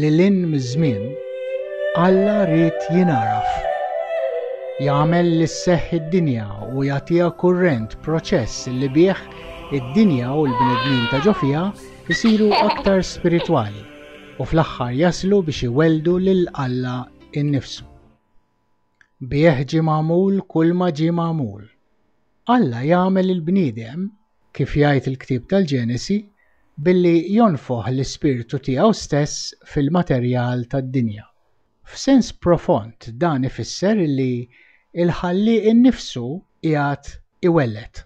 Lil hinn miż-żmien, Alla ried jingħaraf. Jagħmel li sseħħ id-dinja u jagħtiha kurrent, proċess li bih id-dinja u l-bnedmin ta' ġo fiha jsiru aktar spiritwali u fl-aħħar jaslu biex iwelldu lil Alla innifsu. Bih ġie magħmul kulma ġie magħmul. Alla jagħmel il-bniedem, kif jgħid il-ktieb tal-Ġenesi, billi jonfoħ l-ispirtu tiegħu stess fil-materjal tad-dinja. F'sens profond dan ifisser li l-Ħallieq innifsu qiegħed iwelled.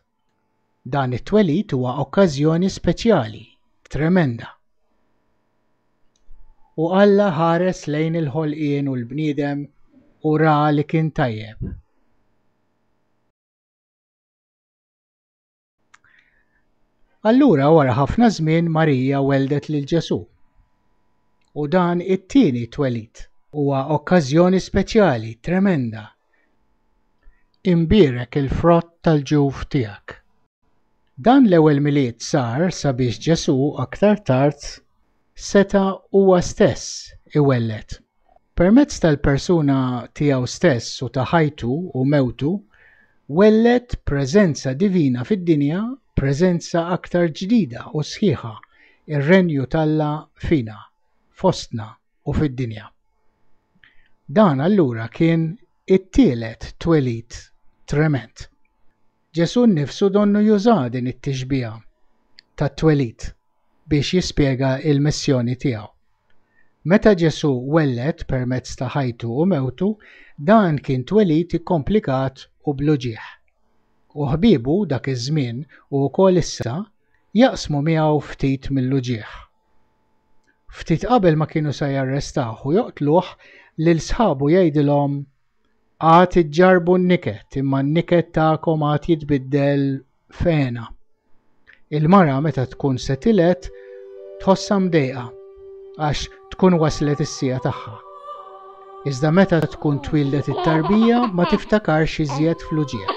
Dan it-twelid huwa okkażjoni speċjali, tremenda. U Alla ħares lejn il-ħolqien u l-bniedem u ra li kien tajjeb. Allura wara ħafna żmien Marija weldet lil Ġesù. U dan it-tieni twelid huwa okkażjoni speċjali, tremenda, Imbierek il-frott tal-ġuf tiegħek. Dan l-ewwel Milied sar sabiex Ġesù aktar tard seta' huwa stess iwelled. Permezz tal-persuna tiegħu stess u ta' ħajtu u mewtu, welled preżenza divina fid-dinja, preżenza aktar ġdida u sħiħa, ir-Renju t'Alla fina, fostna. u fid-dinja. Dan allura kien it-tielet twelid tremend. Ġesù nnifsu donnu juża din it-tixbiha tat-twelid biex jispjega l-missjoni tiegħu. Meta Ġesù welled permezz ta' ħajtu u mewtu, dan kien twelid ikkomplikat u bl-uġigħ. U ħbiebu dak iż-żmien u wkoll issa jaqsmu miegħu ftit mill-uġigħ. Ftit qabel ma kienu se jarrestawh u joqtluh, lil sħabu jgħidilhom, Għad iġġarrbu n-niket, imma n-niket tagħkom għad jitbiddel f'hena. Il-mara meta tkun se tiled tħossha mdejqa għax tkun waslet is-siegħa tagħha. Iżda meta tkun twildet it-tarbija ma tiftakarx iżjed fl-uġigħ.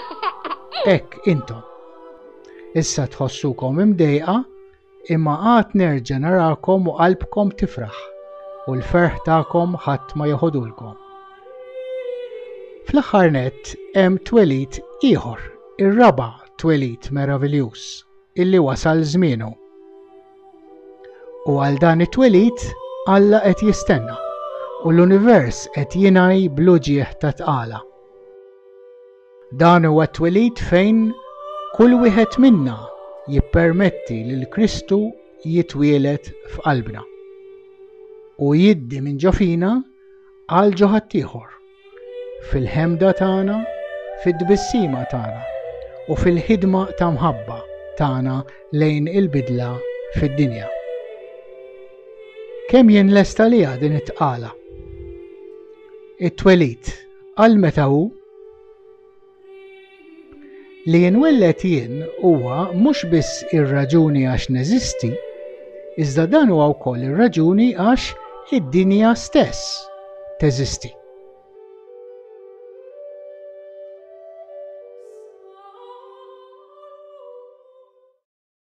Hekk intom. Issa tħossukom imdejqa Imma għad nerġa' narakom u qalbkom tifraħ, u l-ferħ tagħkom ħadd ma jeħodulkom. Fl-aħħar nett hemm twelid ieħor, ir-raba' twelid meraviljuż illi wasal żmienu. U għal dan it-twelid Alla qed jistenna u l-univers qed jingħi bl-uġigħ ta' tqala. Dan huwa t-twelid fejn kull wieħed minna jippermetti lil Kristu jitwieled f'qalbna u jiddi minn ġo fina għal ġo ħaddieħor, fil-ħemda tagħna, fit-tbissima tagħna u fil-ħidma ta' mħabba tagħna lejn il-bidla fid-dinja. Kemm jien lesta liha din it-tqala? It-twelid għal meta hu Li jinwelled jien huwa mhux biss ir-raġuni għax neżisti, iżda dan huwa wkoll ir-raġuni għax id-dinja stess teżisti.